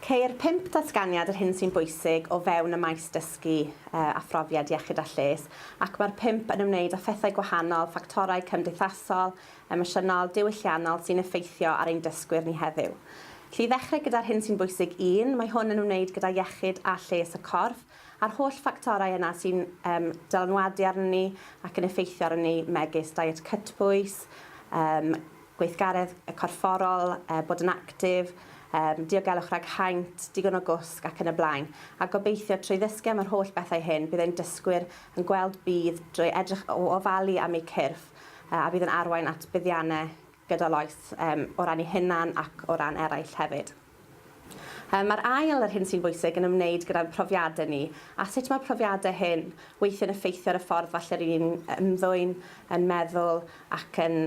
Ceir pump datganiad yr hyn sy'n bwysig o fewn y maes dysgu a phrofiad iechyd a lles ac mae'r pump yn ymwneud â phethau gwahanol, ffactorau cymdeithasol, emosiynol, diwylliannol sy'n effeithio ar ein dysgwyr ni heddiw. Felly i ddechrau gyda'r hyn sy'n bwysig un, mae hwn yn ymwneud gyda iechyd a lles y corff a'r holl ffactorau yna sy'n yym dylanwadu arnon ni ac yn effeithio arnon ni megis diet cytbwys, yym gweithgaredd corfforol, yy bod yn actif, yym diogelwch rhag haint, digon o gwsg ac yn y blaen. A gobeithio trwy ddysgu am yr holl bethau hyn bydd ein dysgwyr yn gweld budd drwy edrych o ofalu am eu cyrff yy a fydd yn arwain at buddiannau gydol oes yym o ran eu hunan ac o ran eraill hefyd. Mae'r ail, yr hyn sy'n bwysig, yn ymwneud gyda'n profiadau ni, a sut mae profiadau hyn weithiau'n effeithio ar y ffordd falle rŷn ni'n ymddwyn, yn meddwl ac yn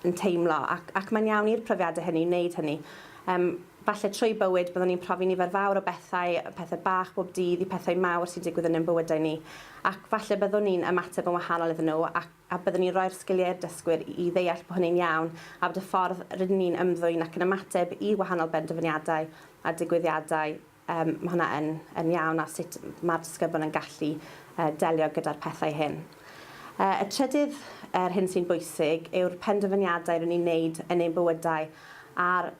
yn teimlo. Ac ac mae'n iawn i'r profiadau hynny wneud hynny. Yym, falle trwy bywyd byddwn ni'n profi nifer fawr o bethau, pethau bach bob dydd i pethau mawr sy'n digwydd yn ein bywydau ni, ac falle byddwn ni'n ymateb yn wahanol iddyn nhw ac a byddwn ni'n rhoi'r sgiliau i'r dysgwyr i ddeall bod hynny'n iawn a bod y ffordd rydyn ni'n ymddwyn ac yn ymateb i wahanol benderfyniadau a digwyddiadau, yym, ma' hwnna yn yn iawn a sut ma'r disgyblion yn gallu yy delio gyda'r pethau hyn. Yy y trydydd, yr hyn sy'n bwysig, yw'r penderfyniadau rydyn ni'n wneud yn ein bywydau a'r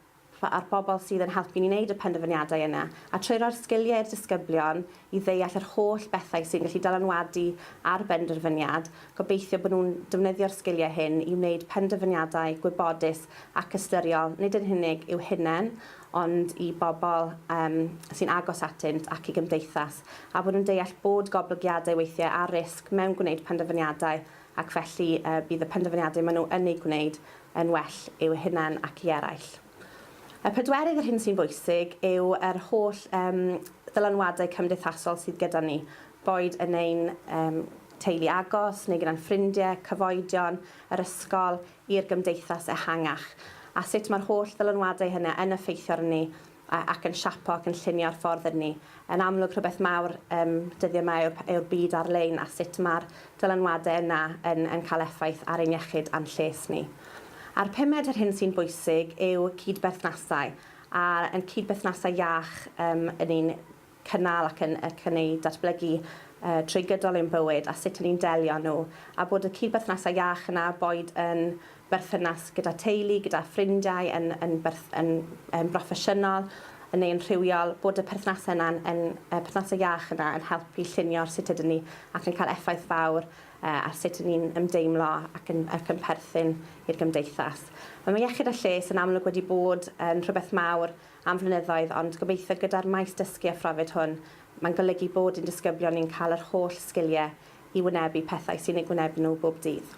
Fa a'r bobl sydd yn helpu ni wneud y penderfyniadau yna, a trwy roi'r sgiliau i'r disgyblion i ddeall yr holl bethau sy'n gallu dylanwadu ar benderfyniad, gobeithio bod nhw'n defnyddio'r sgiliau hyn i wneud penderfyniadau gwybodus ac ystyriol, nid yn unig i'w hunain, ond i bobl um, sy'n agos atynt ac i gymdeithas, a bod nhw'n deall bod goblygiadau weithiau ar risg mewn gwneud penderfyniadau ac felly bydd y penderfyniadau maen nhw yn eu gwneud yn well i'w hunain ac i eraill. Y pedwerydd, yr hyn sy'n bwysig, yw yr holl ddylanwadau cymdeithasol sydd gyda ni, boed yn ein teulu agos neu gyda'n ffrindiau, cyfoedion, yr ysgol, i'r gymdeithas ehangach, a sut mae'r holl ddylanwadau hynny yn effeithio arnon ni ac yn siapo ac yn llunio'r ffordd ydyn ni. Yn amlwg, rhywbeth mawr um, dyddiau yma yw'r, yw'r byd ar-lein a sut mae'r dylanwadau yna yn, yn cael effaith ar ein iechyd a'n lles ni. A'r pumed, yr hyn sy'n bwysig, yw cydberthnasau, a yn cydberthnasau iach um, yn un cynnal ac yn ac yn eu datblygu trwy gydol ein bywyd a sut 'y ni'n delio â nhw, a bod y cyd-berthnasau iach yna, boed yn berthynas gyda teulu, gyda ffrindiau, yn yn berth- yn yn broffesiynol neu yn rhywiol, bod y perthnasau yna'n yn y perthnasau iach yna yn helpu llunio'r sut ydyn ni ac yn cael effaith fawr ar sut 'y ni'n ymdeimlo ac yn ac yn perthyn i'r gymdeithas. Mae iechyd a lles yn amlwg wedi bod yn rhywbeth mawr am flynyddoedd ond gobeithio gyda'r maes dysgu a phrofid hwn mae'n golygu bod i'n disgyblion ni'n cael yr holl sgiliau i wynebu pethau sy'n eu gwynebu nhw bob dydd.